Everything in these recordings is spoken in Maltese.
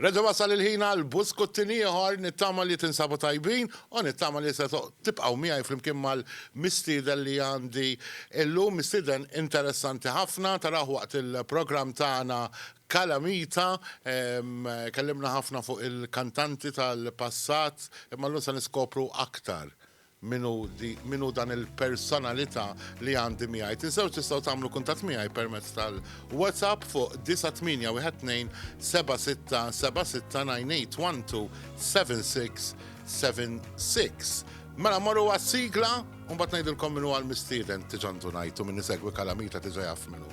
Reġa' wasal il-ħin għal buskuttin ieħor, nittama li tinsabu tajbin u nittama li se tibqgħu miegħi flimkien mal-mistieden li għandi illum, mistieden interessanti ħafna, tarawh waqt il-programm tagħna Calamita, kellimna ħafna fuq il-kantanti tal-passat, imma llum se niskopru aktar Min hu di, min hu dan il-personalità li għandi miegħi? Tinsewx tistgħu tagħmlu kuntatt miegħi permezz tal-WhatsApp fuq 98127676 Mela morru għas-sigla u mbagħad ngħidilkom min huwa l-mistieden tiġa ndunajtu min isegwi kalamita tiġa jaf min hu.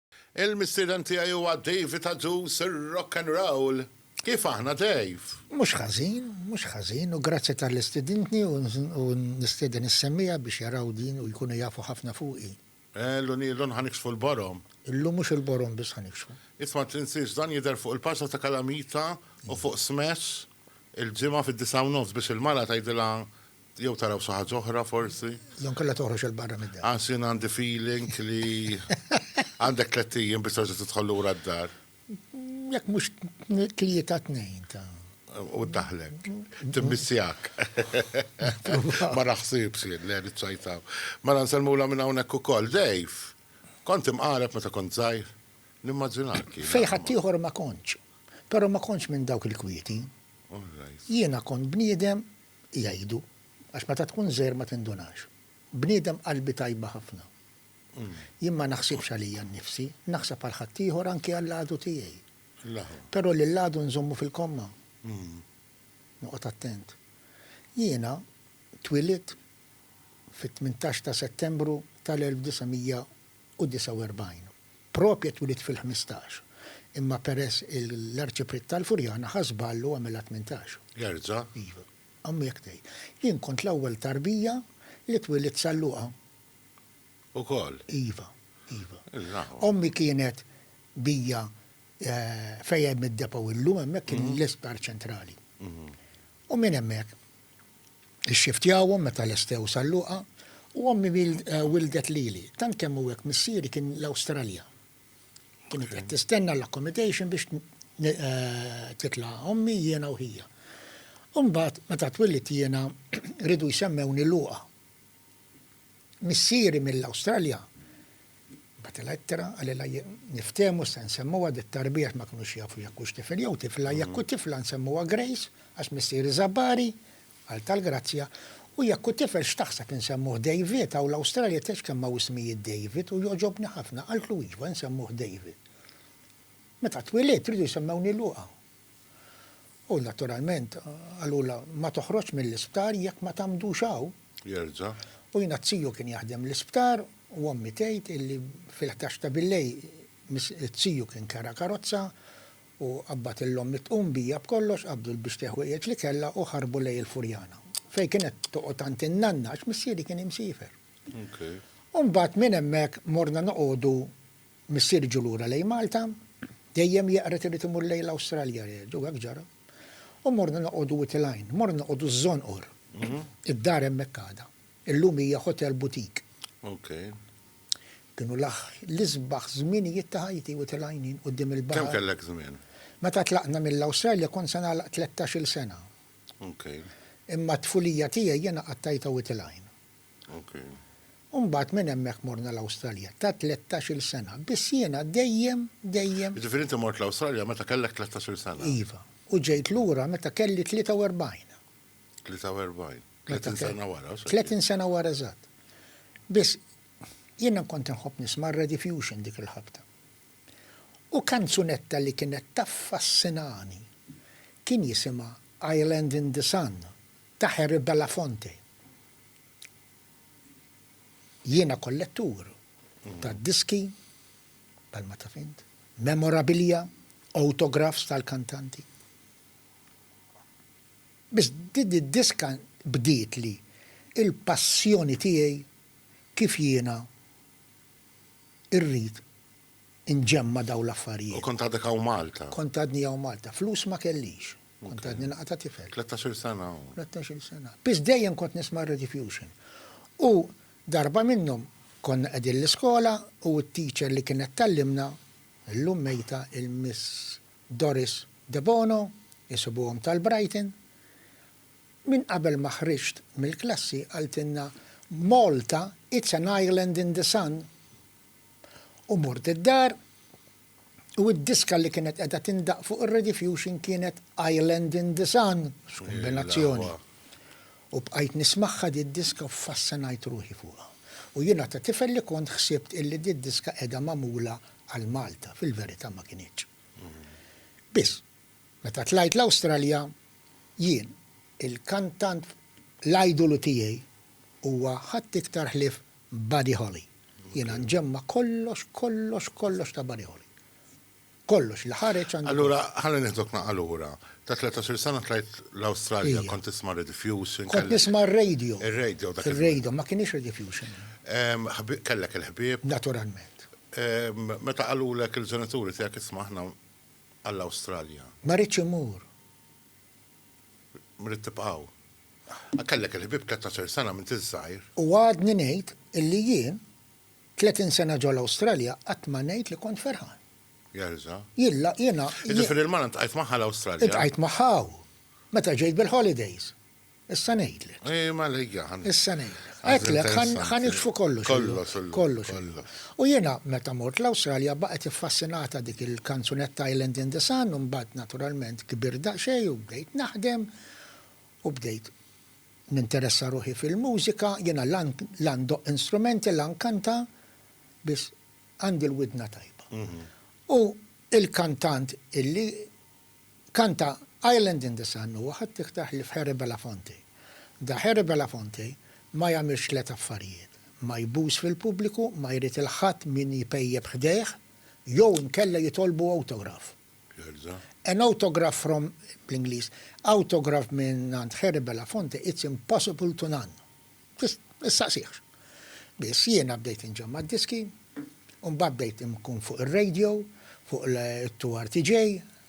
Il-mistieden tiegħi huwa David Adduz, ir-Rock and Roll. Kif aħna, Dave? Mhux ħażin, mhux ħażin, u grazzi talli stidintni u nistieden is-semmiegħa biex jaraw din u jkunu jafu ħafna fuqi. Illun ilun ħa niksfu l-borom. Illum mhux il-borom biss ħa niksfu. Isma' tinsiex dan jidher fuq il-paġna ta' Kalamita u fuq Smash il-Ġimgħa fid-disgħa u nofs biex il-mara tgħidilha Jew taraw xi ħaġa oħra forsi? Jew nkella toħroġ il barra mid-dar. Għax jien għandi feeling li għandek tliet ijiem biex terġa' tidħol lura d-dar. Jekk mhux tlieta tnejn ta' u daħlek. Timmissjak. Ma naħsibx jien, le niċċajtaw. Mela nsellmula minn hawnhekk ukoll. Dejf, kont imqareb meta kont żgħir. Nimmaġinak. Fej ħaddieħor ma kontx. Però ma kontx minn dawk il-kwieti. Jiena kont bniedem jgħidu, għax meta tkun żgħir ma tindunax. Bniedem qalbi tajba ħafna. Jien ma naħsibx għalija nnifsi, naħseb għal ħaddieħor anki għall-għadu tiegħi. Però lill-għadu nżommu fil-komma. Noqgħod attent. Jiena twilidt fit-tmintax ta' Settembru tal-1900 u 49. Propje twielid fil-ħmistax, imma peress l-Arċipriet tal-Furjana ħa żball u għamilha tmintax. Jerġa'? Iva. Ommi hekk tgħid. Jien kont l-ewwel tarbija li twielidt Sal-Luqa. Ukoll? Iva. Iva. Il-laħwa. Ommi kienet bija fejn hemm id-depot illum, hemmhekk kien l-Isptar Ċentrali. U minn hemmhekk Ixxiftjawhom meta lestew sal-luqa u ommi wilddet lili. Tant kemm hu hekk missieri kien l-Awstralja. Kienet qed tistenna l-accommodation biex titla' ommi, jiena u ħija. U mbagħad meta twillidt jiena riedu jsemmewni luqa. missieri mill-Awstralja bagħtilha ittra qalilha niftehmu se nsemmuha dit-tarbija għax ma kinux jafu jekk hux tifel jew tifla, jekk hu tifla nsemmuha Grace għax missieri żabbari, qal tal-grazzja, u jekk hu tifel x'taħseb insemmuh David, hawn l-Awstralja tgħidx kemm hawn ismijiet David u jogħġobni ħafna, qaltlu iva nsemmuh David. Meta twilidt riedu jsemmewni Luqa. U naturalment qalulha ma toħroġx mill-isptar jekk ma tagħmdux hawn. Jerġa'. U jiena t-tiju kien jaħdem l-isptar u ommi tgħid illi fil-ħdax ta' billejl t-tiju kien kera karozza u qabbad il ommi tqum bija b'kollox, qabdu l-bixti ħwejjeġ li kellha u ħarbu lej il-Furjana. Fejn kienet toqgħod għand in-nanna għax missieri kien imsiefer. U mbagħad minn hemmhekk morna noqogħdu Missieri ġu lura lejn Malta, dejjem jeqred irid imur lejn l-Awstralja, u hekk ġara. U morna noqogħdu Wied il-Għajn, morna noqogħdu ż-Żonqor. Id-dar hemmhekk għadha. Illum hija hotel boutique. Kienu l-isbaħ żminijiet ta' ħajti, Wied il-Għajn jien, quddiem il-baħar. Kemm kellek żmien? Meta tlaqna mill-Awstralja kont se nagħlaq tlettax-il sena. Imma t-tfulija tiegħi jiena qattajtha Wied il-Għajn. U mbagħad minn hemmhekk morna l-Awstralja ta' tlettax-il sena, biss jiena dejjem, dejjem. Jiġifieri inti mort l-Awstralja meta kellek tlettax-il sena? Iva, u ġejt lura meta kelli tlieta u erbgħin. Tlieta u erbgħin? Tletin sena wara, u x'għedt? Tletin sena wara eżatt. Biss, jiena kont inħobb nisma' r-Rediffusion dik il-ħabta. U kanzunetta li kienet taffassinani kien jisimha Island in the Sun. Ta' Harry Belafonte Jiena kollettur ta' diski, bħalma taf int, memorabilia, autographs tal-kantanti. Biss din id-diska bdietli l-passjoni tiegħi kif jiena rrid inġemma' dawn l-affarijiet. U kont għadek hawn Malta? Kont għadni hawn Malta. Flus ma kellix. Kont għadni naqta' tifel. Tlettax-il sena u. Tlettax-il sena. Biss dejjem kont nisma' r-Radio Fusion. U darba minnhom konna qegħdin l-iskola u t-teacher li kienet tgħallimna, illum mejta, il-Miss Doris Debono, isibuhom tal-Brighton, minn qabel ma ħriġt mill-klassi qaltilna Malta it's an island in the sun. U mort id-dar u d-diska li kienet qiegħda tindaqq fuq ir-rediffusion kienet Island in the Sun, x'kumbinazzjoni! U bqajt nismagħha did-diska u ffascinajt ruħi fuqha. U jiena ta' tifel li kont ħsibt illi did-diska qiegħda magħmula għal Malta, fil-verità ma kinitx. Biss, meta tlajt l-Awstralja, jien, il-kantant, l-idolu tiegħi huwa ħadd iktar ħlief Buddy Holly. Jiena nġemma' kollox, kollox, kollox ta' Buddy Holly. Kollox li ħareġ għandi. Allura ħalli nieħduk naqqa' lura. Ta' tletatx-il sena tlajt l-Awstralja, kont tisma' Rediffusion. Kont nisma' r-radio. Ir-radio dak iż-żmien. Ir-radio, ma kinitx Rediffusion. Kellek il-ħbieb. Naturalment. Meta qalulek il-ġenituri tiegħek isma' aħna għall-Awstralja. Ma ridtx immur. Ridt tibqgħu. Kellek il-ħbieb tlettax-il sena m'int iż-żgħir. U għadni ngħid illi jien, tletin sena ġol-Awstralja, qatt ma ngħid li kont ferħan. Jerża'. Jilla, jiena. Jiġifieri l-mara ltqajt magħha l-Awstralja? Iltqajt magħha hawn, meta ġejt bil-holidays. Issa ngħidlek. Ejja, mela ejja. Issa ngħidlek. Hekk le, ħa niksfu kollox. Kollox, kollox. Kollox. U jiena meta mort l-Awstralja baqgħet iffassinata dik il-kanzunetta Island in the Sun u mbagħad naturalment kbirt daqsxejn u bdejt naħdem u bdejt ninteressa ruħi fil-mużika, jiena la la ndoqq instrumenti la nkanta biss għandi l-widna tajba. U il-kantant illi Kanta Island in the Sun u ħadd iħtah li f'Harry Belafonte. Da Harry Belafonte ma jagħmilx tliet affarijiet, ma jbus fil-pubbliku, ma jrid il-ħadd min jpejjep ħdejh, jew inkella jitolbu awtograf. An autograph from, bl-Ingliż, awtograf mingħand Harry Belafonte it's impossible to none. Tistaqsihx. Biss jiena bdejt inġemma' d-diski, u mbagħad bdejt inkun fuq ir-radio, fuq it-2RTJ,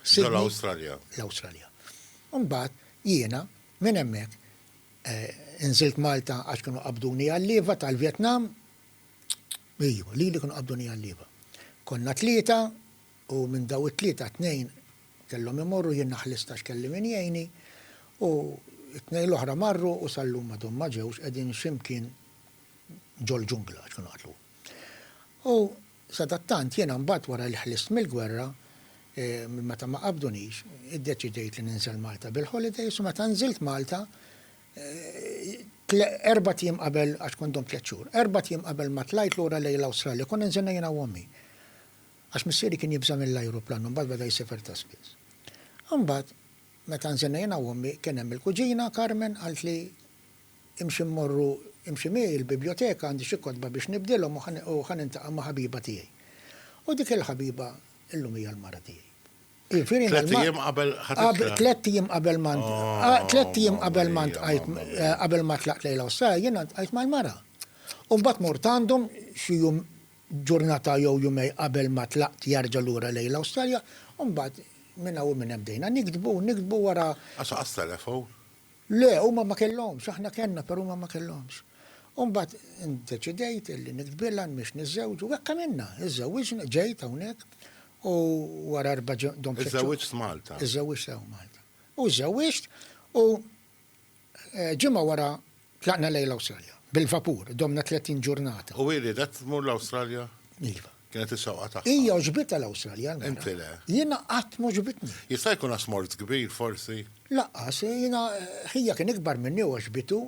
Sydney. Ġol Awstralja. L-Awstralja. U mbagħad jiena minn hemmhekk inżilt Malta għax kienu qabduni għal-lieva tal-Vjetnam. Iju, lili kienu qabduni għal-lieva. Konna tlieta U minn daw it-tlieta tnejn kellhom imorru, jien ma ħlistax kelli min jgħinni, u t-tnejn l-oħra marru u sal-lum m'għadhom ma ġewx, qegħdin xi mkien ġol-ġungla għax kienu qatlu. U sadattant jiena mbagħad wara li ħlist mill-gwerra, minn meta ma qabdunix, iddeċidejt li ninżel Malta bil-holidays u meta nżilt Malta, erbat jiem qabel, għax kont domt tliet xhur, erbat jiem qabel ma tlajt lura lejn l-Awstralja, konna nżilna jiena u ommi. Għax missieri kien jibża' mill-ajruplan u mbagħad beda jsiefer ta' spiss. Imbagħad, meta nżilna jiena u ommi, kien hemm il-kuġina, Carmen, qaltli, Imxi mmorru, imxi miegħi il-bibljoteka, għandi xi kotba biex nibdilhom u ħa u ħa niltaqa' ma' ħabiba tiegħi. U dik il-ħabiba illum hija l-mara tiegħi. Jiġifieri inna Tlett l-ma ijiem qabel ħadd Qab, itlaq. tlett ijiem qabel ma nt a Oh, tlett ijiem mamma qabel ma mia, ntqajt mamma eh, mia. qabel ma tlaqt lejla u s-sara, jiena ntqajt mal-mara. U mbagħad mort għandhom xi jum Ġurnata jew jumej qabel ma tlaqt jarġa' lura lejn l-Awstralja, u mbagħad minn hawn u minn hemm bdejna niktbu u niktbu wara. Għax laqas telefon? Le, huma ma kellhomx, aħna kellna però huma ma kellhomx. U mbagħad indeċidejt li niktbilha, nmiex niżżewġ, u hekk għamilna, iżżewwiġna, ġejt hawnhekk u wara erba' ġim-. Iżżewwiġt f'Malta? Iżżewwiġt hawn Malta. U żżewwiġt u. Ġimgħa wara tlaqna lejn l-Awstralja. Bil-vapur, domna tletin ġurnata. U hi riedet tmur l-Awstralja? Iva. Kienet ix-xewqa tagħha. Hija għoġbitha l-Awstralja, l-mara. Inti le? Jiena qatt m'għoġbitni. Jista' jkun għax mort kbir, forsi? Lanqas, jiena, ħija kien ikbar minni u għoġbitu.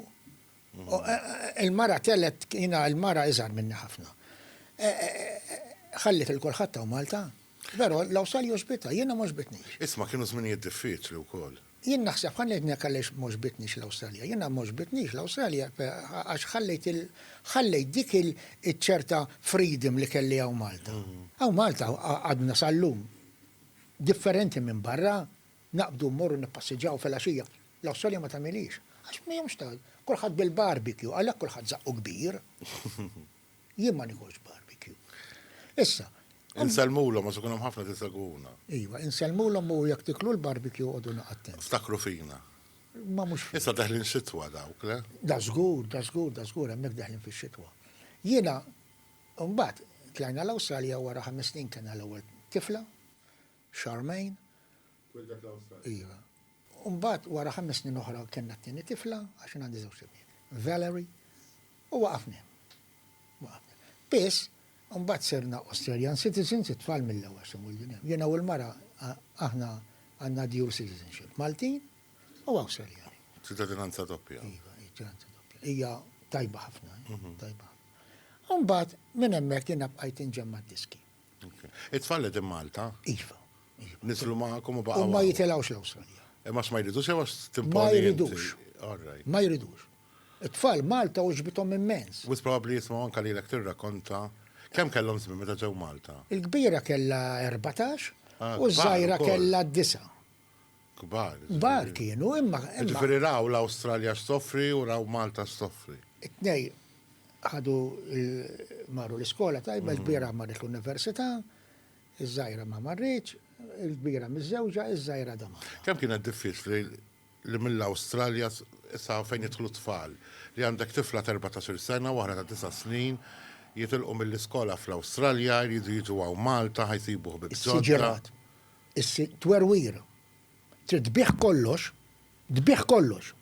Il-mara telgħet, jiena l-mara iżgħar minni ħafna. Ħalliet lil kulħadd hawn Malta. Vero, l-Awsal joġbitha, jiena m'għoġbitnix. Isma' kienu żminijiet diffiċli wkoll. Jien naħseb, ħa ngħidlek għaliex m'għoġbitnix l-Awstralja. Jiena m'għoġbitnix l-Awstralja għax ħallejt il, ħallejt dik il, iċ-ċerta freedom li kelli hawn Malta. Hawn Malta għadna sal-lum differenti minn barra, naqbdu mmorru nippassiġġaw filgħaxija. L-Awstralja ma tagħmilhiex. Għax m'hemmx ta', kulħadd bil-barbecue, għalhekk kulħadd żaqqu kbir. Jien ma nikolx barbecue. Issa. Insellmulhom għax ikun hemm ħafna tisegwuna. Iva, insellmulhom u jekk tiklu l-barbecue għodu naqattent. Ftakru fina. Ma mhux fina. Issa daħlin xitwa dawk, le? Da żgur, da żgur, da żgur, hemmhekk daħlin fix-xitwa. Jiena, mbagħad, tlajna l-Awstralja wara ħames snin kellna l-ewwel tifla. xarmejn. Twildet l-Awstralja. Iva. U mbagħad wara ħames snin oħra kellna t-tieni tifla, għax jien għandi żewġt ibniet, Valerie, u waqafna hemm. Waqafna hemm. Biss, mbagħad sirna Australian citizens, it-tfal mill-ewwel se mwielidin hemm. Jiena u l-mara aħna għandna dual citizenship, Maltin u Awstraljani. Ċittadinanza doppja. Iva, ċittadinanza doppja. Hija tajba ħafna, tajba ħafna. U mbagħad minn hemmhekk jiena bqajt inġemma' d-diski. It-tfal qegħdin Malta? Iva. Nizlu magħkom u baqgħu. U ma jitilgħux l-Awstralja. Imma ma jridux jew timponi. Ma jridux. Ma jridux. It-tfal Malta u ġbitom immens. Wis probabbli jisma' anke lilek tirrakonta kemm kellhom żmien meta ġew Malta. Il-kbira kellha 14 u ż-żgħira kellha disa'. kbar. Kbar kienu, imma. Ġifieri raw l-Awstralja x'toffri u raw Malta x'toffri. It-tnej ħadu marru l-iskola tajba, mm. il-kbira marret l-università, iż-żgħira ma marriċ, il-kbira miż-żewġa, iż-żgħira da marra. Kemm kienet diffiċli li mill-Awstralja sa fejn jidħlu tfal li għandek tifla ta' 14 sena u ta' 9 snin jitilqu mill-iskola fl-Awstralja jridu jiġu għaw Malta ħajsibu ħbib ġodda. Issir twerwir. Trid tbigħ kollox, tbigħ kollox.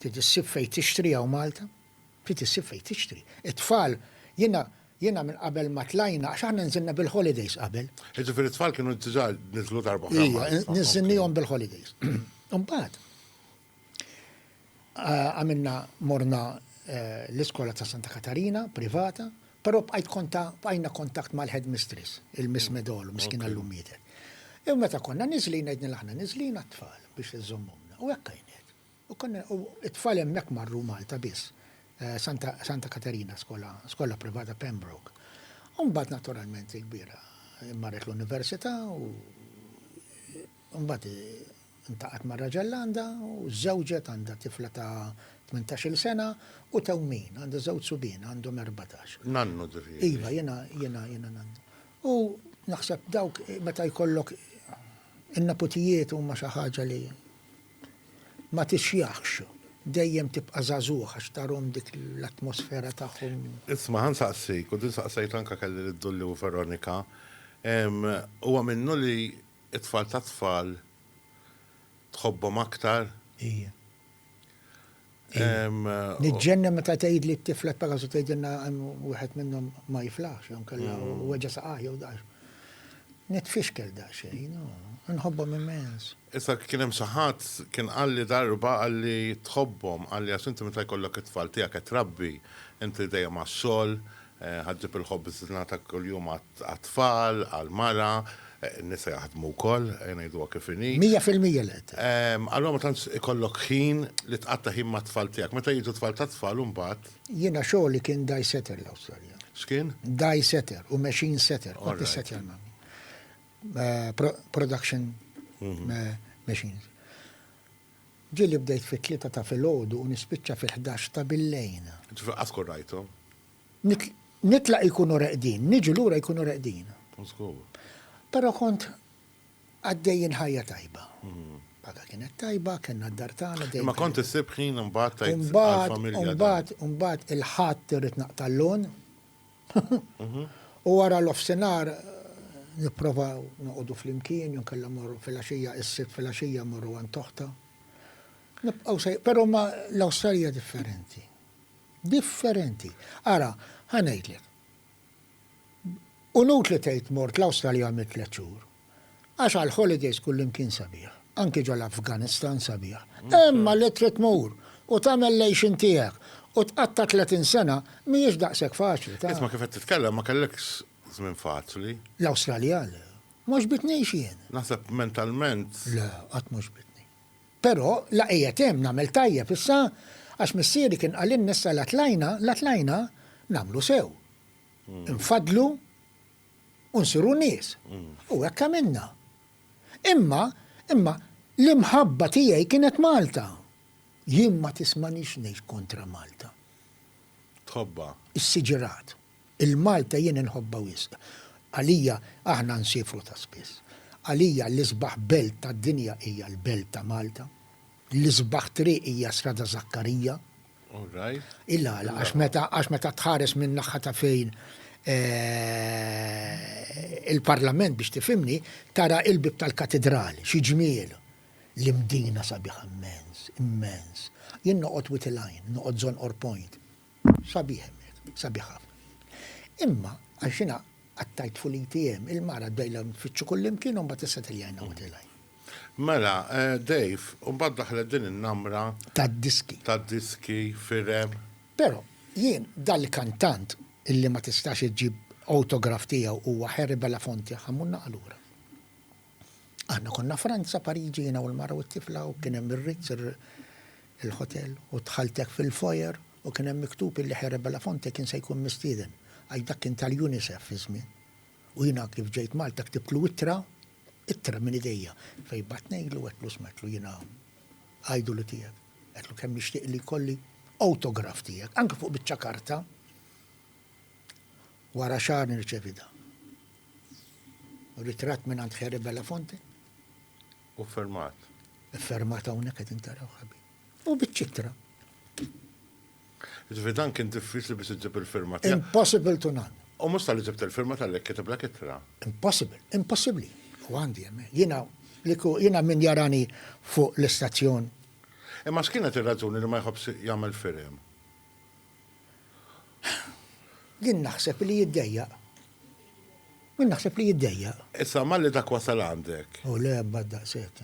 Trid issib fejn tixtri hawn Malta. Trid issib fejn tixtri. It-tfal, jiena, jiena minn qabel ma tlajna, għax aħna nżilna bil-holidays qabel. Jiġifieri t-tfal kienu diġà niżlu darba oħra Malta. Iva, niżilniehom bil-holidays. Imbagħad. Għamilna morna l-iskola ta' Santa Katarina privata, però bqajt konta bqajna kontakt mal-headmistress, il-Miss Medolo, miskina llum mietet. U meta konna niżlin ngħidilna aħna niżlin għat-tfal biex iżommhomna. U hekk għinet. U konna u t-tfal hemmhekk marru Malta biss. Santa Santa Katarina skola skola privata Pembroke. U mbagħad naturalment il-kbira marret l-università u mbagħad Ltaqgħet ma' raġel għandha u żżewġet għandha tifla ta' tmintax-il sena u tewmin. Għandha żewġ subien għandhom erbatax. Nannu ġifieri. Iva jiena jiena jiena nannu. U naħseb dawk meta jkollok in-neputijiet huma xi ħaġa li ma tixjahx. Dejjem tibqa' żagħżugħ għax tarhom dik l-atmosfera tagħhom. Isma' ħa nsaqsik, u din saqsejtha anke kelli lid-Dulli u Veronika, huwa minnu li It-tfal tat-tfal tħobbhom aktar? Ija. Niġġenna meta tgħidli t-tifla t-Pegasu tgħidilna hemm wieħed minnhom ma jiflaħx jew inkella weġa' saqajh jew daqs. Nitfixkel daqsxejn, inħobbhom immens. Issa kien hemm xi ħadd kien qalli darba qalli tħobbhom, qalli għax inti meta jkollok it-tfal tiegħek qed trabbi, inti dejjem għax-xogħol, Ħaġġeb il-ħobżna ta' kuljum għat-tfal, għall-mara, in-nisa jaħdmu wkoll, ejja ngħiduha kif inhi. Mija fil-mija li qed. Allura ma tantx ikollok ħin li tqatta' ħin mat-tfal tiegħek. Meta jiġu t-tfal tat-tfal imbagħad. Jiena xogħli kien dye setter l-Awstralja. X'kien? Dye setter u machine setter. Kont nissettja l-machines. Ġieli bdejt fit-tlieta ta' filgħodu u nispiċċa fil-ħdax ta' billejn. Ġifieri qatt tkun rajthom? Nitlaq jkunu reqdin, niġi lura jkunu reqdin. Żgur. Però kont għaddejjin ħajja tajba. Paga kienet tajba, kellna d-dar tagħna dejjem. Imma kont issib ħin imbagħad tgħid għall-familja. Imbagħad, imbagħad, imbagħad il-Ħadd irrid naqta' l-lon. U wara l-offsinar nipprovaw noqogħdu flimkien jew kellha morru filgħaxija is-Sibt filgħaxija morru għand oħta. Nibqgħu sej, però ma l-Awstralja differenti. Differenti. Ara, ħa ngħidlek. Unut li tgħid mort l-Awstralja għamilt tliet xhur. Għax għal holidays kullimkien sabiħ, anki ġo l-Afganistan sabiħ. Imma li trid tmur u tagħmel l-għejxien tiegħek u tqatta' tletin sena mhijiex daqshekk faċli, taf. Isma' kif qed titkellem ma kellekx żmien faċli. L-Awstralja le. Ma ġbidnix jien. Naħseb mentalment. Le, qatt ma ġbidni. Però la qiegħed hemm nagħmel tajjeb issa għax missieri kien qalilna issa la tlajna, la tlajna, nagħmlu sew. Infaddlu u nsiru nies. U hekk għamilna. Imma, imma l-imħabba tiegħi kienet Malta. Jien ma tismanix ngħid kontra Malta. Tħobbha. Is-siġirat. Il-Malta jien inħobbha wisq. Għalija aħna nsiefru ta' spiss. Għalija l-isbaħ belt tad-dinja hija l-belt ta' Malta. L-isbaħ triq hija Strada Żakkarija, Il-għala, għax meta tħares minn naħħa ta' fejn eh, il-parlament biex tifimni, tara il-bib tal-katedrali, xi ġmiel, l-imdina sabiħ immens, immens. Jien noqgħod wit il-għajn, noqgħod zon or point. Sabiħ hemmhekk, sabiħ Imma, għax jiena għattajt fuq l-ATM, il-mara dejla nfittxu kullimkien u mbagħad issa tiljajna wit il-għajn. Mela, Dave, u mbagħad daħlet din in-namra. Tad-diski. Tad-diski, firem. Però, jien, dal-kantant illi ma tistax iġġib awtograf tiegħu huwa Harry Belafonte ħammurna għal ura. Aħna konna Franza, Pariġi, jiena u l-mara u t-tifla u kien hemm ir-Ritz, il-hotel, u dħalt hekk fil-foyer u kien hemm miktub illi Harry Belafonte kien se jkun mistieden għax dak kien tal-UNICEF iż-żmien. U jiena kif ġejt Malta ktibtlu ittra, ittra minn idejja, fejn bgħattnejlu u għedtlu sma' għedtlu jiena idolu tiegħek. Għedtlu kemm nixtieq li jkolli awtograf tiegħek, anke fuq biċċa karta. Wara xahar nirċevi dan. Ritratt minn għand Heri Belafonte. U fermat. Fermat hawnhekk qegħdin taraw ħabib. U biċ-ċitra. Ġifieri dan kien diffiċli biex iġib il-firma tiegħek. Impossible to none. U mhux tal-li ġibt il-firma tal-li kitiblek ittra. Impossible, impossibbli. U għandi hemm. Jiena liku jiena min jarani fuq l-istazzjon. Imma x'kienet ir-raġuni li ma jħobbx jagħmel firem? Jien naħseb li jiddejjaq. Jien naħseb li jiddejjaq. Issa malli dak wasal għandek. U le bad daqshekk.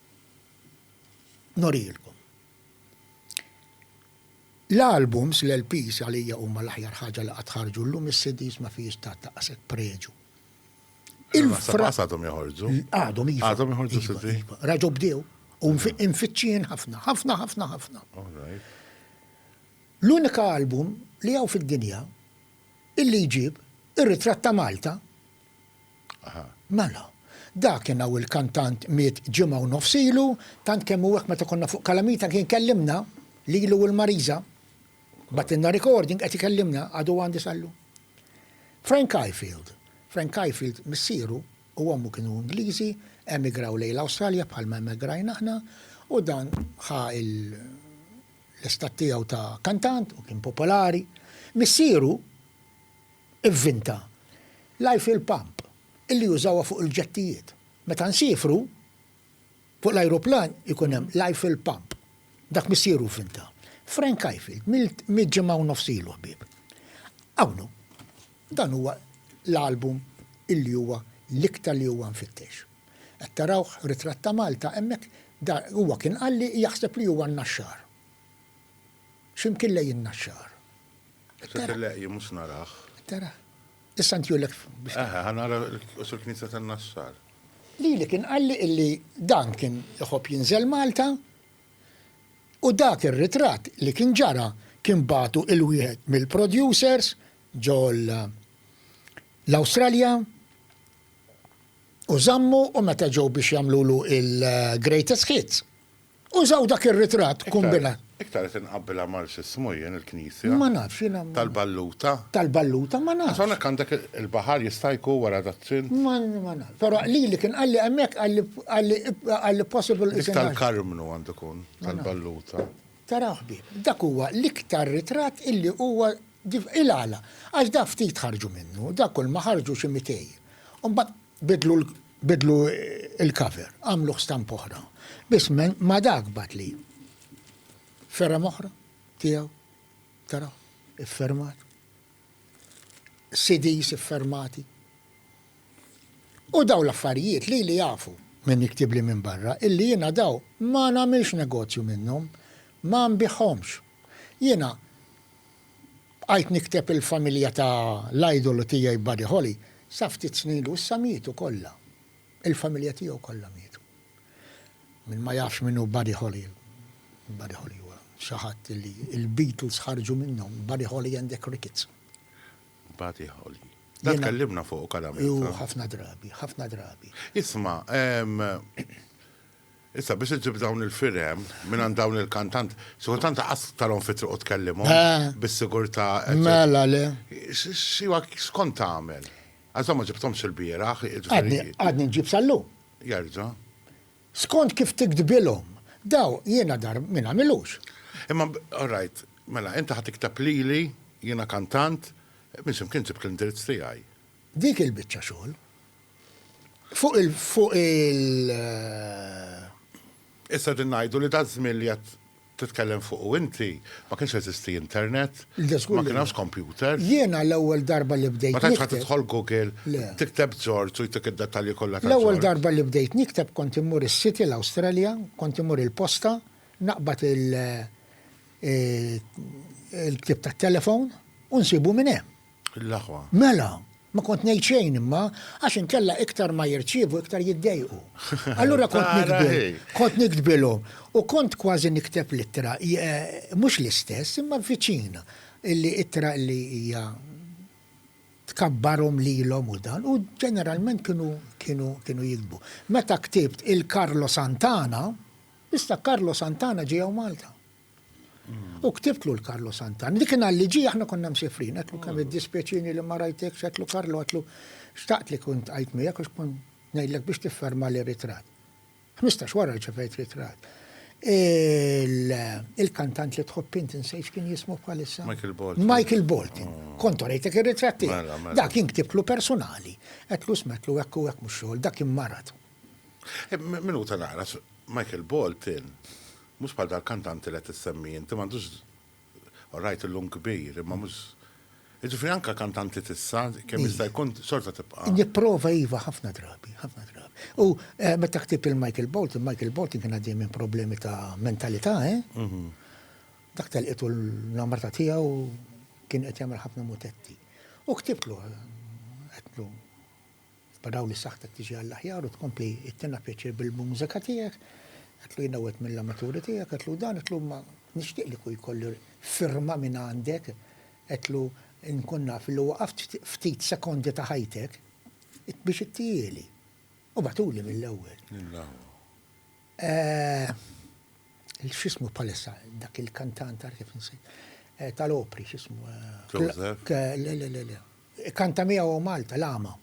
norilkom. L-albums, l-LPs għalija huma l-aħjar ħaġa li qatt ħarġu llum is-CDs ma fihiex ta' daqshekk preġu. Il-fras għadhom joħorġu. Għadhom iva. Għadhom joħorġu iva, CD. Iva. Raġu bdew u nfittxin ħafna, ħafna, ħafna, ħafna. L-unika album li hawn fid-dinja illi jġib ir-ritratt ta' Malta Aha. Mela. Dakin hawn il-kantant miet ġimgħa u nofs ilu, tant kemm hu hekk meta konna fuq Kalamita kien kellimna, lilu u l-Marisa. Bagħtilna recording qed ikellimna, għadu għandi sal-lum. Frank Ifield. Frank Ifield missieru u ommu kienu Ingliżi, emigraw lejn l-Awstralja bħalma emigrajna aħna u dan ħa l-istat tiegħu ta' kantant u kien popolari. Missieru Ivvinta l-Eiffel Pump illi jużawha fuq il-ġettijiet. Meta nsiefru, fuq l-ajruplan ikun hemm l-Eiffel Pump. Dak missieru vvinta. Frank Ifield, mitt ġimgħa u nofs ilu, ħbieb. Hawn hu. Dan huwa l-album illi huwa l-iktar li huwa mfittex. Qed tarawh, Ritratt ta' Malta, hemmhekk, huwa kien qalli jaħseb li huwa n-Naxxar. X'imkien lejn in-Naxxar. Sir Leqji mhux narah. Tara. Issa ntju lek biex. Eħe, ħanara l-qosor knisja tan-Naxxar. Lili kien qalli illi dan kien iħobb jinżel Malta u dak ir-ritratt li kien ġara kien bagħtu il-wieħed mill-producers ġo l-Awstralja u żammu u meta ġew biex jagħmlulu il-greatest hits Użaw dak ir-ritratt kombinat. Iktar qed inqabbilha mal x'ismu jien il-knisja. Ma nafx jiena. Tal-Balluta. Tal-Balluta ma nafx. Għax hawnhekk għandek il-baħar jista' jkun wara dat-trint. Ma nafx. Però lili kien qalli hemmhekk qalli qalli possible. Dik tal-Karmnu għandu jkun tal-Balluta. Tara ħbieb, dak huwa l-iktar ritratt illi huwa il għala. Għax dak ftit ħarġu minnu, dak kulma ħarġu xi mitej. U mbagħad. Biddlu l-cover, għamluh stampa oħra, biss ma' dak bagħatli fergħa oħra tiegħu, tara, iffermat, CDs iffermati. U dawn l-affarijiet lili jafu min jiktibli minn barra illi jiena dawn ma nagħmilx negozju minnhom, ma nbigħhomx. Jiena. Bqajt nikteb il-familja ta' l-idolu tiegħi Buddy Holly sa ftit snin ilu issa mietu kollha. Il-familja tiegħu kollha mietu. Min ma jafx min hu Buddy Holly, Buddy Holly huwa xi ħadd li l-Beatles ħarġu minnhom, Buddy Holly and the Crickets. Buddy Holly. Dan tkellimna fuqu Karamel. Hu ħafna drabi, ħafna drabi. Isma', Issa biex iġġib dawn il-firem mingħand dawn il-kantant, xi kultant qas tarhom fi triq u tkellimhom bis-sigurtà. Mela le. X'kont tagħmel? Għax dawn ma ġibthomx ilbieraħ. Għadni nġib sal-lum. Jerġa'. Skont kif tiktbilhom. Daw jiena dar min għamilux. Imma all right, mela inti ħa tikteb lili, jiena kantant, minn x'imkien ġibt l-indirizz tiegħi. Dik il-biċċa xogħol. Fuq il fuq il. Issa qegħdin ngħidu li daż-żmien li qed titkellem fuqu inti ma kienx jeżisti internet, ma kien hemmx kompjuter. Jiena l-ewwel darba li bdejt nikteb. Ma tantx kont tidħol Google, tikteb Ġorġ u jtik id-dettalji kollha ta' Ġorġ. L-ewwel darba li bdejt nikteb kont immur is-City l-Awstralja, kont immur il-posta, naqbad il il-ktieb tat-telefon u nsibu minn hemm. L-aħwa. Mela, ma kont ngħid xejn imma, għax inkella iktar ma jirċievu iktar jiddejqu. Allura kont nikdbi, kont nikdbilhom u kont kważi nikteb l-ittra, mhux l-istess imma viċin, li ittra li hija tkabbarhom lilhom u dan u ġeneralment kienu kienu kienu jigdbu. Meta ktibt il-Carlo Santana, issa Carlo Santana ġie hawn Malta. U ktibtlu l-Karlo Santan. Li kien għalli ġi aħna konna msifrin, għetlu kemm id-dispieċini li ma rajtek, xetlu Karlo għetlu xtaqt li kunt għajt miegħek u xkun ngħidlek biex tifferma li ritrat. 15 wara rċevejt ritrat. Il-kantant li tħobb int insejx kien jismu bħalissa. Michael Bolton. Michael Bolton. Oh. Kontu rejtek ir-ritrat tiegħek. Mela, mela. Dak kien ktibtlu personali. Qedlu smetlu hekk u hekk mhux xogħol, dak kien marat. Eh, Minuta naqra, Michael Bolton Mhux bħal dal-kantant li qed issemmi inti, m'għandux all right illum kbir, imma mhux Jiġifieri anke kantanti t'issa, kemm jista' jkun xorta tibqa'. Nipprova iva ħafna drabi, ħafna drabi. U meta ktibt lil Michael Bolton, Michael Bolton kien għaddej minn problemi ta' mentalità, eh? Dak telqitu l-namrata tiegħu kien qed jagħmel ħafna mutetti. U ktibtlu, għedtlu. F'dawn is-saħħtek tiġi għall-aħjar u tkompli ittina pjaċir bil-mużika tiegħek, għidlu jiena wieħed mill-amaturi tiegħek, għidlu dan, għidlu imma nixtieq li kieku jkolli firma minn għandek, għidlu nkun naf li waqaft ftit sekondi ta' ħajtek biex ittihieli. U bagħtuli mill-ewwel. X'ismu bħalissa dak il-kantant għarf kif insejħ tal-opri x'ismu? Joseph? Le, le, le, le. Ikkanta miegħu hawn Malta, l-agħma.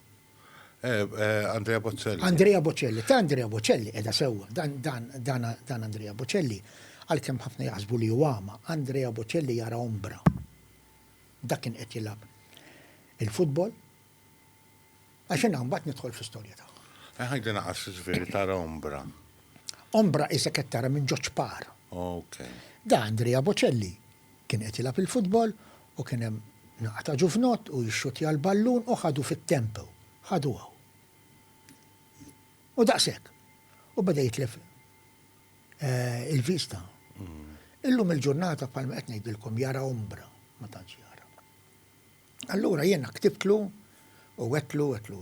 Andrea Bocelli. Andrea Bocelli. Ta' Andrea Bocelli, qiegħda sewwa. Dan Andrea Bocelli, għalkemm ħafna jaħsbu li hu agħma, Andrea Bocelli jara ombra. Dak kien qed jilgħab il-futbol. Għax jiena mbagħad nidħol fl-istorja tagħha. Eh, ħajdi naqas ġifieri tara ombra. Ombra isek qed tara minn ġoċ par. Ok. Da Andrea Bocelli Kien qed jilgħab il-futbol u kien hemm naqa' ta' ġuvnott u jixxuttja l-ballun u ħadu fit-tempo. Ħadu hawn. U daqshekk. U beda jitlef il-vista. Illum il-ġurnata bħalma qed ngħidilkom jara ombra, ma tantx jara. Allura jiena ktibtlu u għedtlu għedtlu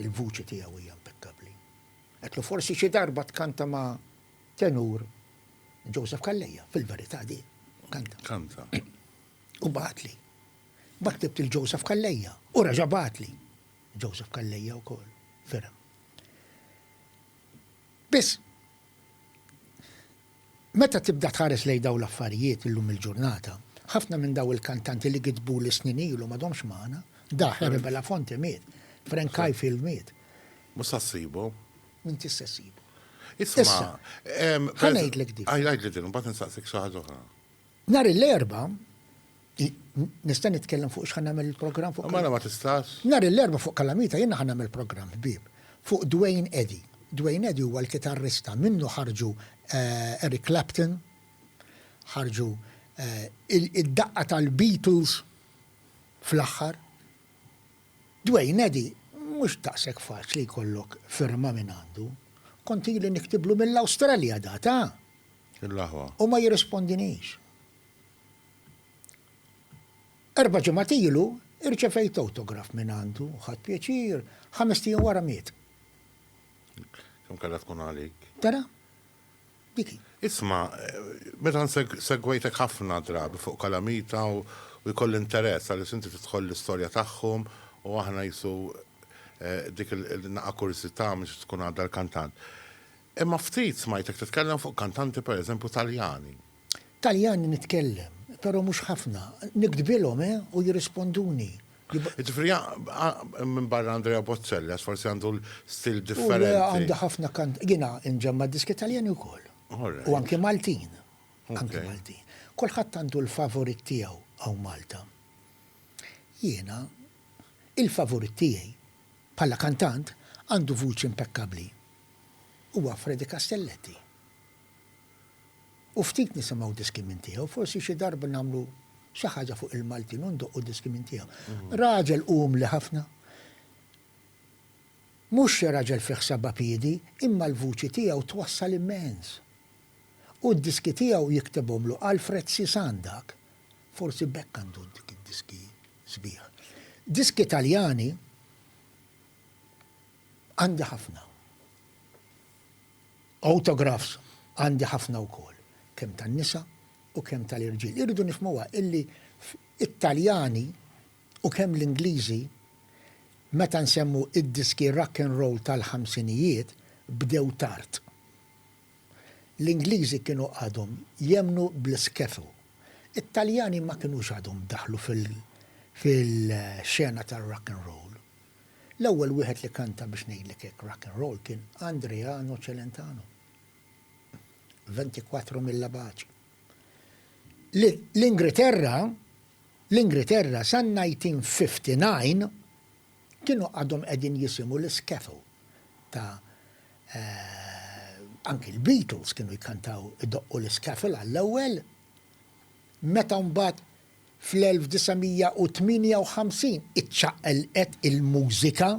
l-vuċi tiegħu hija impekkabbli. Għedtlu forsi xi darba tkanta ma' Tenur Joseph Calleja, fil-verità di kanta. Kanta. U bagħatli. Ma ktibt il-Joseph Calleja u reġa' bagħatli. Joseph Calleja wkoll, ferem. Biss, meta tibda tħares lejn daw l-affarijiet illum il-ġurnata, ħafna minn daw il-kantanti li kitbu li snin ilu m'għadhomx magħna, daħ Rebela Fonte miet, Frank Kajfil miet. Mhux sassibu. Min tista' ssibu. Issa, ħanajdlek dik. Għajdlek din, mbagħad nistaqsik xi ħaġa oħra. Nhar l-erba' nista' nitkellem fuq x'ħan nagħmel il-programm fuq. Mela ma tistax. Nhar l-erba' fuq Kalamita jiena ħan nagħmel programm ħbieb fuq Dwayne Eddy. Dwayne Eddy huwa l-kitarrista minnu ħarġu eh, Eric Clapton, ħarġu eh, id-daqqa tal-Beatles fl-aħħar. Dwayne, Eddie, mhux daqshekk faċli jkollok firma minn għandu. Kont ili niktiblu mill-Awstralja data! Il-aħwa. U ma jirrispondinix. Erba' ġimgħat ilu irċevejt awtograf minn għandu, ħadt pjaċir, ħamest ijiem wara miet. Kemm kellha tkun għalik. Tara? Dik hi. Isma', meta nsegwejtek ħafna drabi fuq Kalamita u jkolli interess għaliex inti tidħol l-istorja tagħhom u aħna qisu dik il-naqa' kurżità mhux tkun għadha l-kantant. Imma ftit smajtek titkellem fuq kantanti per eżempju Taljani. Taljani nitkellem, però mhux ħafna. Niktbilhom, eh, u jirrisponduni. Ġifri, minn barra Andrea Bozzella, forsi għandu l-stil differenti. Għandu għandu ħafna kant, jina nġemma diski taljani u koll. U anki Maltin. Anki Maltin. Kolħat għandu l-favorit tijaw għaw Malta. Jina, il-favorit tijaj, pala kantant, għandu vuċi impeccabli. Huwa Freddy Castelletti. u ftit nisimgħu diski minn tiegħu, forsi xi darba nagħmlu xi ħaġa fuq il-Maltin u ndoqqu diski minn tiegħu. Raġel umli ħafna. Mhux xi raġel fih seba' piedi, imma l-vuċi tiegħu twassal immens. U d-diski tiegħu jiktibhomlu Alfred Sisan dak. Forsi b'hekk għandu dik id-diski sbieħ. Diski Taljani għandi ħafna. Autographs għandi ħafna wkoll, kemm tan-nisa u kemm tal-irġiel. Irridu nifhmuha illi t-Taljani u kemm l-Ingliżi meta nsemmu d-diski rock and roll tal-ħamsinijiet bdew tard. L-Ingliżi kienu għadhom jemmnu bl-skiffle. It-Taljani ma kinux għadhom daħlu fil-xena tar-rock and roll. L-ewwel wieħed li kanta biex ngħidlek hekk rock and roll kien Andreano Celentano, Ventiquattro Mille Baci. L-Ingriterra, l-Ingriterra san-1959 kienu għadhom qegħdin jisimgħu l-skiffle ta' anki l-Beatles kienu jkantaw idoqqu l-skiffle għall-ewwel. meta mbagħad fl-1958 iċċaqlqet il-mużika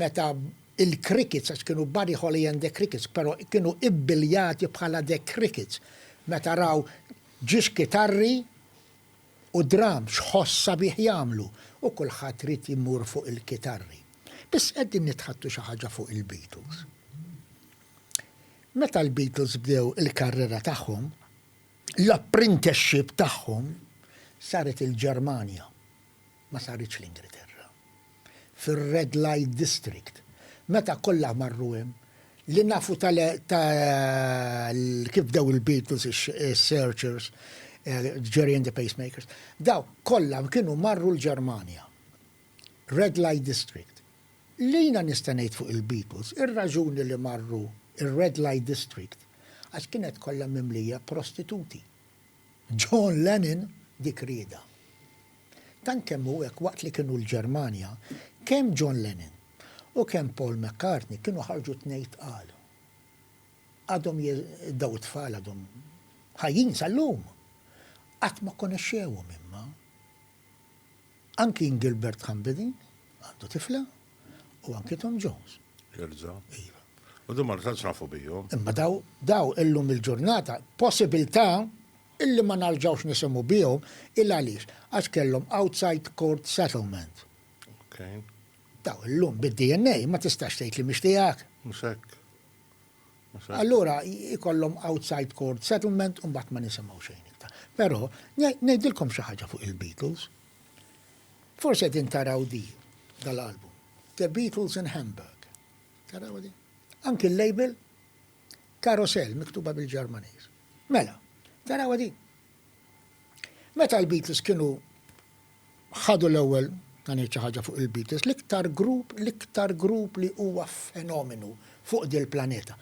meta l-Crickets, għax kienu Buddy Holly and the Crickets, però kienu ibbiljati bħala The Crickets, meta raw ġiex kitarri u drums ħoss sabiħ jagħmlu u kulħadd ried jmur fuq il-kitarri. Biss qegħdin nitħattu xi ħaġa fuq il-Beatles. Meta l-Beatles bdew il-karriera tagħhom, L-apprenticeship tagħhom saret il-Ġermanja, ma saritx l-Ingilterra, fir-Red Light District. Meta kollha marru hemm, li nafu ta' kif bdew il-Beatles, is-Searchers, Gerry and the Pacemakers, dawk kollha kienu marru l-Ġermanja, Red Light District. Li jiena nista' ngħid fuq il-Beatles, ir-raġuni li marru r-Red Light District għax kienet kollha mimlija prostituti. John Lennon dik riedha. Tant kemm hu hekk waqt li kienu l-Ġermanja, kemm John Lennon u kemm Paul McCartney kienu ħarġu tnej tqal. Għadhom daw it-tfal għadhom ħajjin sal-lum. Qatt ma konexxewhom imma. Anki Ngilbert Ħambidi għandu tifla u anki Tom Jones. Jerġa'. Iva. U din ma tantx nafu bihom. Imma daw daw illum il-ġurnata possibilità illi ma narġgħux nisimgħu bihom il għaliex għax kellhom outside court settlement. Okay. Daw illum bid-DNA ma tistax tgħid li mhix tiegħek. Mhux hekk. Allura jkollhom outside court settlement u mbagħad ma nisimgħu xejn iktar. Però ngħidilkom xi ħaġa fuq il-Beatles. Forsi qegħdin taraw di dal-album. The Beatles in Hamburg. Taraw di? Anki l-label Carousel miktuba bil-Ġermaniż. Mela, taraw di? Meta l-Beatles kienu ħadu l-ewwel ta' ngħid xi ħaġa fuq il-Beatles, l-iktar grupp, l-iktar grupp li huwa fenomenu fuq dil-planeta.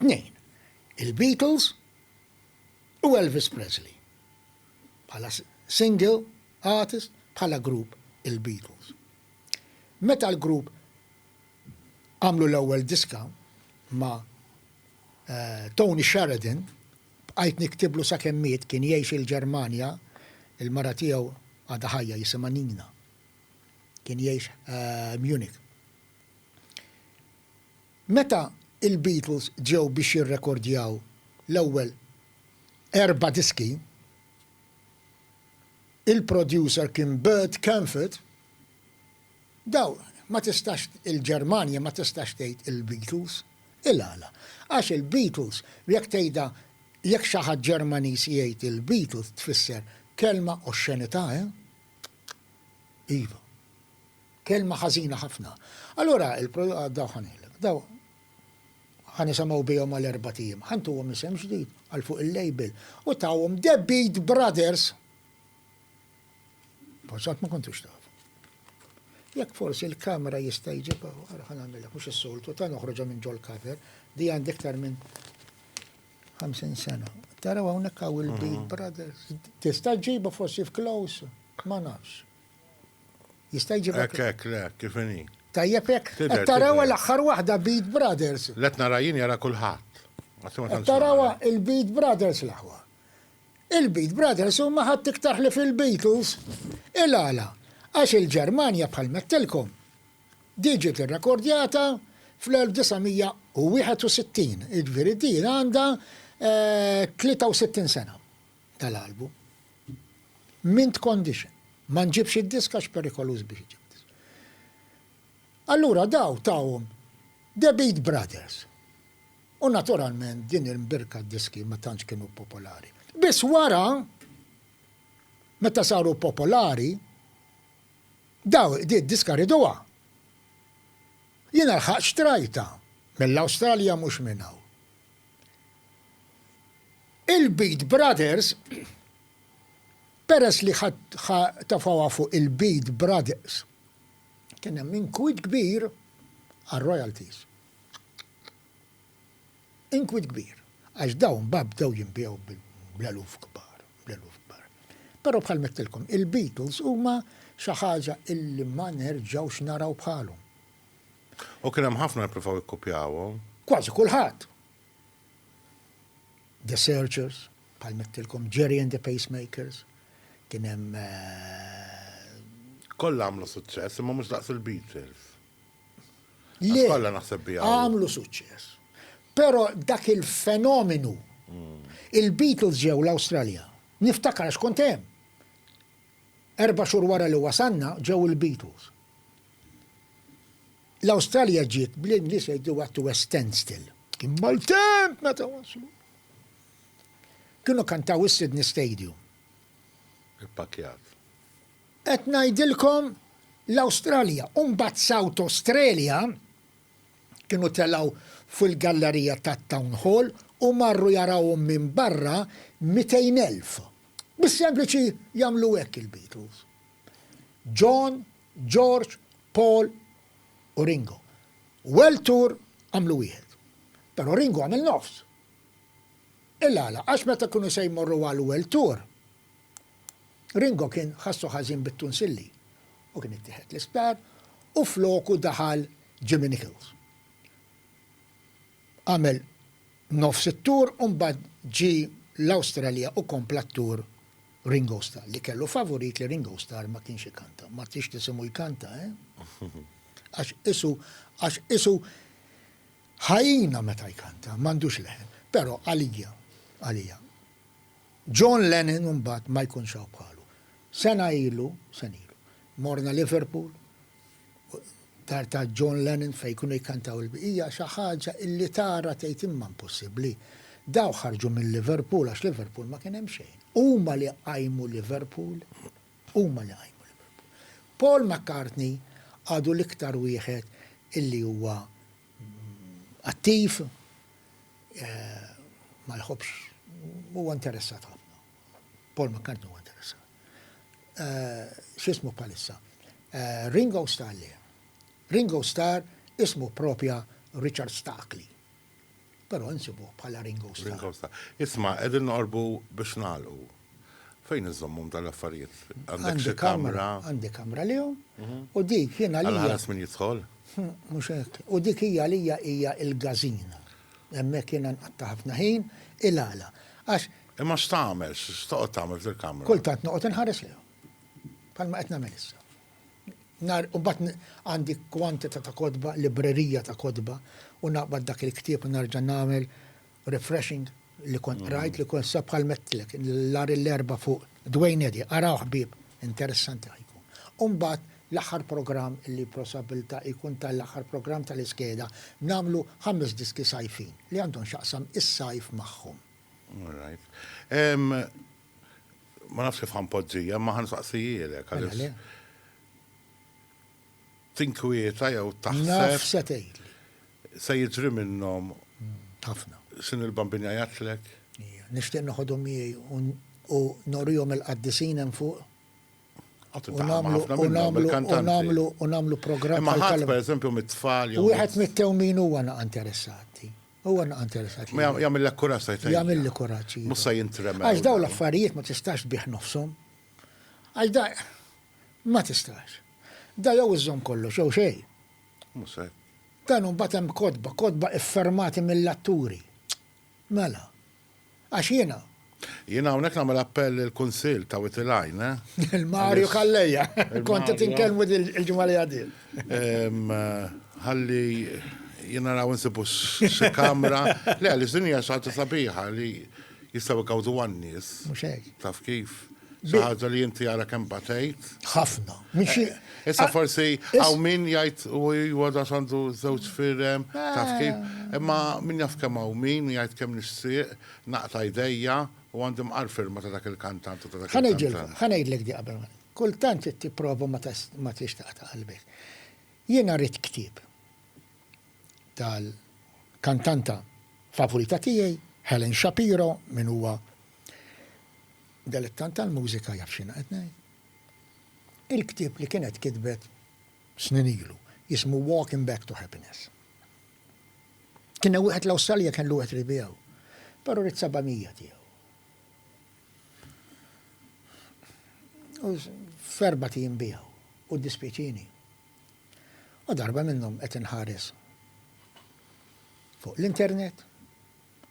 Tnejn, il-Beatles u Elvis Presley. Bħala single artist, bħala grupp il-Beatles. Meta l-grupp għamlu l-ewwel diska ma' eh, Tony Sheridan, Bqajt niktiblu sakemm miet, kien jgħix il-Ġermanja, il-mara tiegħu għadha ħajja jisimha Nina. Kien jgħix Munich. Meta il-Beatles ġew biex jirrekordjaw l-ewwel erba' diski, il-producer kien Bert Kaempfert, Daw, ma tistax, il-Ġermanja ma tistax tgħid il-Beatles. Il-għala? Għax il-Beatles, jekk tgħidha, jekk xi ħadd Ġermaniż jgħid il-Beatles tfisser kelma oxxenità, eh? Iva. Kelma ħażina ħafna. Allura, daw ħa ngħidlek, daw ħa nisemgħu bihom għal erbat ijiem, ħa ntuhom isem ġdid għal fuq il-label u tawhom The Beat Brothers. Forsi qatt ma kontux taf. Jekk forsi l-kamera jista' jġibha, ara ħa nagħmilha mhux is-soltu, ta' noħroġha minn ġol cover, di għandi iktar minn 50 sena. Taraw hawnhekk hawn il-Big mhm. Brothers. Tista' ġibu forsi f'close, ma nafx. Jista' jġibu. Hekk hekk le, kif inhi. Tajjeb hekk. Taraw l-aħħar waħda Beat Brothers. Let narajin jara kulħadd. Taraw il-Beat Brothers l-aħwa. Il-Beat Brothers huma ħadd iktar ħlief il-Beatles. Il-għala? Għax il-Ġermanja bħal mettilkom diġiet irrekordjata fl-1961, jiġifieri din għandha 63 sena dal-album. Mint condition. Ma nġibx id-disk għax perikoluż biex iġib disk. Allura daw tawhom The Beat Brothers. U naturalment din il-mbirka d-diski ma tantx kienu popolari. Biss wara, meta saru popolari, daw di d-diska riduha. Jiena lħaqt xtrajtha mill-Awstralja mhux minn hawn. Il-Beat Brothers, peress li ħa tafgħuha fuq il-Beat Brothers, kien hemm inkwiet kbir għar-royalties. inkwiet kbir, għax dawn mbagħad bdew jinbiegħu bl-eluf kbar, bl-eluf kbar. Però bħalma għedtilkom, il-Beatles huma xi ħaġa illi ma nerġgħux naraw bħalhom. U kien hemm ħafna li ppruvaw jikkupjawhom. Kważi kulħadd! The Searchers, bħalma għedtilkom, Gerry and the Pacemakers, kien hemm. Kollha għamlu suċċess, imma mhux daqs il-Beatles. Le. Kollha naħseb biha. Għamlu suċċess. Però dak il-fenomenu. Hmm. Il-Beatles ġew l-Awstralja. Niftakar għax kont hemm. Erba' xhur wara li wasanna ġew il-Beatles. L-Awstralja ġiet bl-Ingliż jgħidu għattu standstill. Kien mal-temp meta waslu. Kienu kantaw is-Sydney Stadium. Ippakjat. Qed ngħidilkom l-Awstralja u mbagħad South Australia kienu telgħu fuq il-gallerija tat-Town Hall u marru jarawhom minn barra mitejn elf. Bis-sempliċi jagħmlu hekk il-Beatles. John, George, Paul u Ringo. World Tour għamlu wieħed. Però Ringo għamel nofs. Il-għala? Għax meta kienu se jmorru għal World Tour, Ringo kien ħassu ħażin bit-tunsilli u kien ittieħed l-isptar u floku daħal Jimmy Nicholls. Għamel nofs it-tour u mbagħad ġie l-Awstralja u kompla t-tour Ringo Starr, li kellu favurit li Ringo Starr ma kienx ikanta. Ma tridx tisimgħu jkanta, eh? Għax isu, għax isu ħajjina meta jkanta, m'għandux leħen. Però għalija, għalija, John Lennon imbagħad ma jkunx hawn bħalu. Sena ilu, sena ilu, morna Liverpool, dar ta' John Lennon fejn kienu jikkantaw il-bqija, xi ħaġa illi tara tgħid imma impossibbli. Dawk ħarġu minn Liverpool għax Liverpool ma kien hemm xejn. Huma li qajmu Liverpool, huma li qajmu Liverpool. Paul McCartney għadu l-iktar wieħed illi huwa attiv, ma jħobbx, huwa interessat ħafna. Paul McCartney huwa interessat. X'ismu bħalissa? Ringo Starr le. Ringo Starr ismu propja Richard Starkley. Però nsibu bħala Ringo Starr. Ringo Starr. Isma, qegħdin noqorbu biex nagħlqu. Fejn iżommhom dan l-affarijiet? Għandek xi kamra? Għandi kamra lihom u dik jien għalija. Għal ħares min jidħol? Mhux hekk. U dik hija għalija hija l-gażina. Hemmhekk jiena nqatta' ħafna ħin il-għala. Għax. Imma x'tagħmel? X'toqgħod tagħmel fil-kamra? Kultant noqgħod inħares lejhom. Bħalma qed nagħmel issa. Nar u mbagħad għandi kwantità ta' kotba, librerija ta' kotba u naqbad dak il-ktieb u narġa' nagħmel Refreshing li kont qrajt li kont sab bħal mettlek l-ar l-erba fuq Dwayne Eddy, araw ħbieb, interessanti ħa jkun. U mbagħad l-aħħar programm li prosabilta jkun ta' l-aħħar programm ta' l-iskeda nagħmlu ħames diski sajfin li għandhom x'jaqsam is-sajf magħhom. All right. Ma nafx kif ħanpoġġija, imma ħansaqsijielek għaliex. tinkwieta jew taħseb. Naf se tgħidli. Se jiġri minnhom. Ħafna. Sin il-Bambin jgħajatlek. Nixtieq noħodhom miegħi u norihom il-qaddisin hemm fuq. U nagħmlu u nagħmlu programm. Ma ħadd pereżempju mit-tfal jew. Wieħed mit-tewmin huwa naqa' interessati. Huwa naqa' interessati. Ma jagħmillek kuraġġ tajt. Jagħmilli kuraġġ. Mhux se jintrema. Għax dawn l-affarijiet ma tistax bih nofshom. Għax da ma tistax. Da jew iżżomm kollox jew xejn. Mhux hekk. Dan u mbagħad hemm kotba, kotba iffirmati mill-atturi. Mela. Għax jiena. Jiena hawnhekk nagħmel appell lill-Kunsill, tawit il-għajn, eh? Lil Mario Calleja. Kont qed inkellmu l-ġimgħa li għaddiet. Ħalli jiena naraw insibu xi kamra. Le, għaliex din hija xi ħaġa sabiħa li. jistgħu jkawżu għan-nies. Mhux hekk. Taf kif? Xi ħaġa li inti ara kemm batejt. Ħafna. Eh, issa forsi hawn min jgħid u huwa da għandu żewġ firem, taf kif? Eh. Imma min jaf kemm hawn min jgħid kemm nixtieq naqta' jdejja u għandi mqar firma ta' dak il-kantant u ta' dak il-kantant. Ħanejdlek di qabel. Kultant tipprova ma tix taqta' qalbek. Jiena rrid ktib. tal-kantanta favorita tiegħi, Helen Shapiro, min huwa delettant tal-mużika jaf x'jiena qed ngħid. Il-ktieb li kienet kitbet snin ilu, jismu Walking Back to Happiness. Kien wieħed l-Awstralja kien l-wieħed li biegħu, però rid 700 tiegħu. U ferba tim biegħu u dispjaċini. U darba minnhom qed inħares fuq l-internet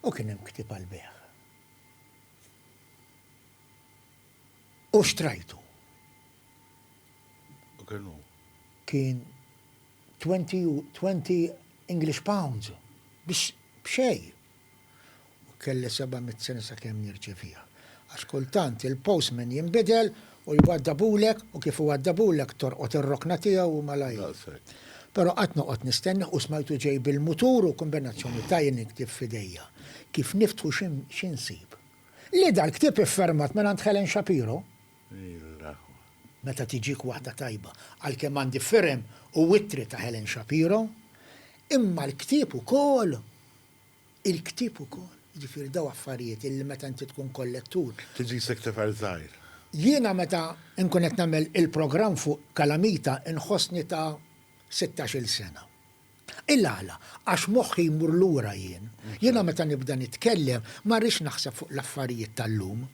u kien hemm ktieb għall-bejgħ. U xtrajtu. U kien hu? Kien 20 English pounds biex b'xejn. U kelli seba' mitt sena sakemm nirċeviha. Għax kultant il-postman jinbidel u jwaddabulek u kif iwaddabulek tolqot ir-rokna tiegħu u malajr. Però qatt noqgħod nistennah u smajtu ġej bil-mutur u kombinazzjoni ta' jien il-ktieb f'idejja. Kif niftħu xi nsib? Le dal-ktieb iffermat mingħand Helen Shapiro. Meta tiġik waħda tajba. Għalkemm għandi firem u ittri ta' Helen Shapiro. Imma l-ktieb ukoll. Il-ktieb ukoll, jiġifieri dawn affarijiet illi meta inti tkun kollettur. Tiġi sekretarju żgħir. Jiena meta nkun qed nagħmel il-programm fuq Calamita nħossni ta' sittax-il sena. Il-għala? Għax moħħi jmur lura jien. Jiena meta nibda nitkellem ma rridx naħseb fuq l-affarijiet tal-lum.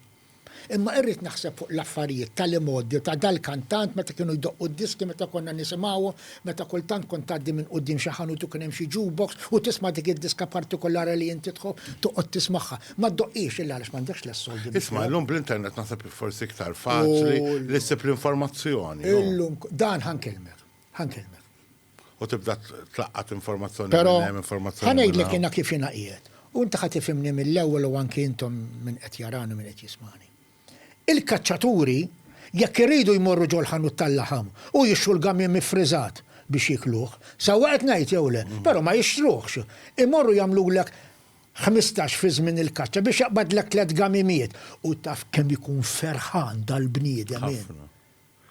Imma irrid naħseb fuq l-affarijiet tal-imgħoddi ta' dal-kantant meta kienu jdoqqu d-diski meta konna nisimgħuhom, meta kultant kont tgħaddi minn quddiem xi ħanut u kien hemm xi jukebox u tisma' dik id-diska partikolara li inti tħobb, toqgħod tismagħha. Ma ddoqqhiex illa għaliex m'għandekx l-soldi biex. Isma', illum bl-internet naħseb hi forsi iktar faċli li ssib l-informazzjoni, hu. Illum, dan ħa nkellmek, ħa nkellmek. U tibda tlaqqat informazzjoni minn Però, hemm, informazzjoni ħa minn ngħidlek hawn. jiena kif jiena qiegħed, u inti ħa tifhimni mill-ewwel u anki intom min qed jarani u min qed jismagħni. Il-kaċċaturi jekk iridu jmorru ġol-ħanut tal-laħam u jixtru l-gamiem iffriżat biex jiekluh, sewwa qed ngħid jew le, però ma jixtruhx, imorru jagħmlulek ħmistax fi żmien il-kaċċa biex jaqbadlek tliet gamimiet. U taf kemm ikun ferħan dal-bniedem hu. Ħafna.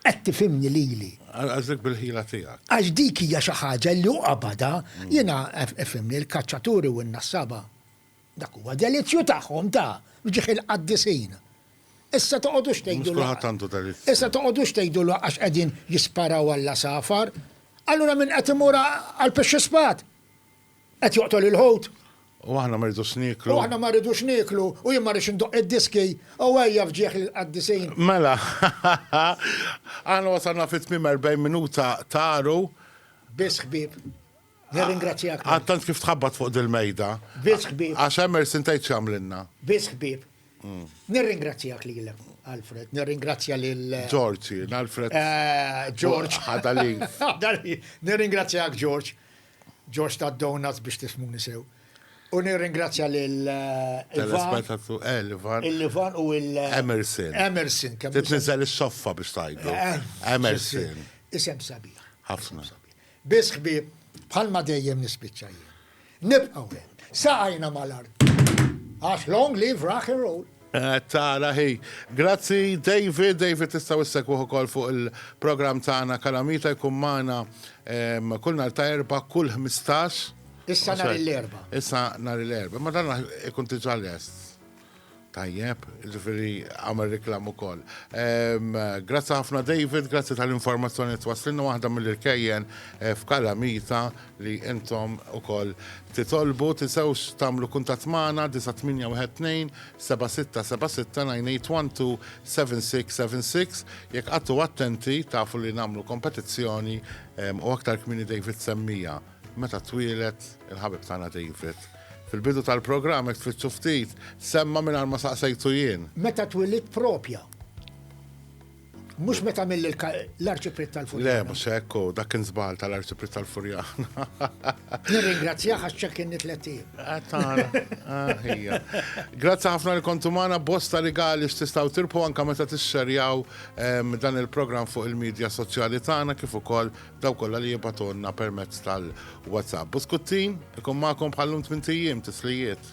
Qed tifhimni lili? Qasdek bil-ħila tiegħek. Għax dik hija xi ħaġa li hu qabadha. Jiena, ifhimni, il-kaċċaturi u n-nassaba, dak huwa delizzju tagħhom, ta', f'ġieħ il-qaddisin. Issa toqgħodux tgħidu. Mhux kulħadd għandu delizzju. Issa toqgħodux tgħidu le għax qegħdin jisparaw għall-għasafar. Allura min qed imur għall-pixxi spad? Qed joqtol il-ħut. U aħna ma rridux nieklu. U aħna ma rridux nieklu, u jien ma rridx indoqq id-diski, u ejja f'ġieħ il-qaddisin. Mela, aħna wasalna fi tmiem 40 minuta ta' għaru. Biss ħbieb. Nirringrazzjak. Għad tant kif tħabbat fuq dil-mejda. Biss ħbieb. Għax hemm irsin tgħid x'għamlilna. Biss ħbieb. Mm. Nirringrazzjak lilek, Alfred, nirringrazzja lil. Eh, George, Alfred. Eh, George. Ħadali. Nirringrazzjak, George. George tad-donuts biex tifmuni sew. U nirringrazzja lil Telespettaturi, eh, l-Ivan. Il-Ivan u il- Emerson. Emerson, kemm Titniżel is-soffa biex tajdu. Eh, Emerson. Isem sabiħ. Ħafna. Biss ħbieb, bħalma dejjem nispiċċa jien. Nibqgħu hemm. Saqajna mal-art. Għax long live rock and roll. Qed tara hi. Grazzi David, David tistgħu issegwuh ukoll fuq il-programm tagħna Kalamita jkun magħna kull nhar ta' Erbgħa kull ħmistax. Issa nhar l-Erbgħa. Issa nhar l-Erbgħa, ma dan ikun diġà lest. Tajjeb, ġifiri għamel reklam u koll. Grazzi ħafna David, grazzi tal-informazzjoni t-waslinu waħda mill-irkejjen eh, f'Kalamita li intom ukoll titolbu, tinsewx tagħmlu kuntatt magħna 9812-7676-981-276 jekk qagħdtu attenti tafu li nagħmlu kompetizzjoni u aktar kmieni David semmiha meta twieled il-ħabib tagħna David. Fil-bidu tal-programm jekk tfittxu ftit semma mingħajr ma saqsejtu jien. Meta twilidt propja? Mhux meta għamel l-Arċipriet tal-Furjana. Le, mhux hekk, dak kien żball tal-Arċipriet tal-Furjana. Nirringrazzjah għax ċekkinni tlettijiem. Għatana, ħija. Grazzi ħafna li kontu magħna bosta rigali x'tistgħu tirpu anke meta tixxerjaw ehm, dan il-programm fuq il-medja soċjali tagħna kif ukoll daw kollha li jibatonna permezz tal-WhatsApp. Buskuttin, ikun magħkom bħallum tmintijiem tislijiet.